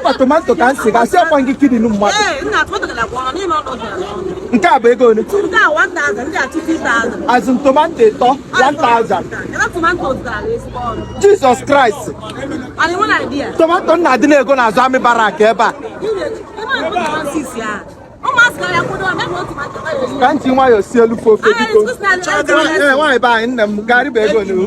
mba tomato ka m si gasị ọkwa gị kidini mmadụ nke a bụ ego ole azụ tomato ịtọ 1000 jizọs kraịst tomato m na-adị na-ego na azụ army barrack ebe a ka m ji nwayọọ si elu fofe biko nwaanyị be anyị nne m garị bụ ego n'ihu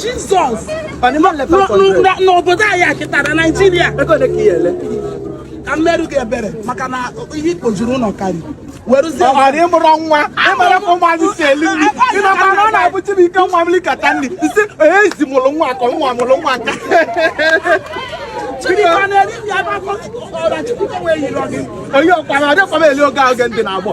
Jizọs n'obodo anyị a kịtaa Naijiria ka m meelụ gị ebere maka na ihe kpojuru ụlọ karị ọghara ị mụrụ nwa ị mara ka ụmụ anyị si eli nri ị makwa na ọ na-abụ Chibuike nwa m likata nri ị sị ezi mụrụ nwa ka nwa mụrụ nwa ka onye ọkwa na ọdịkwa m eli oge ahụ oge ndị na-agbọ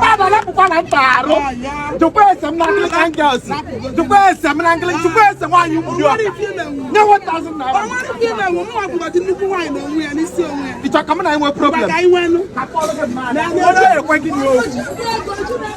Baba napụkwa na mba arụ jụkwa ese m na Anglican girls jụkwa ese m na Anglican jụkwa ese nwaanyị mgbidi ọka nye 1000 naira ị chọ ka m na ị nwee problem onye ekwe gị n'okwu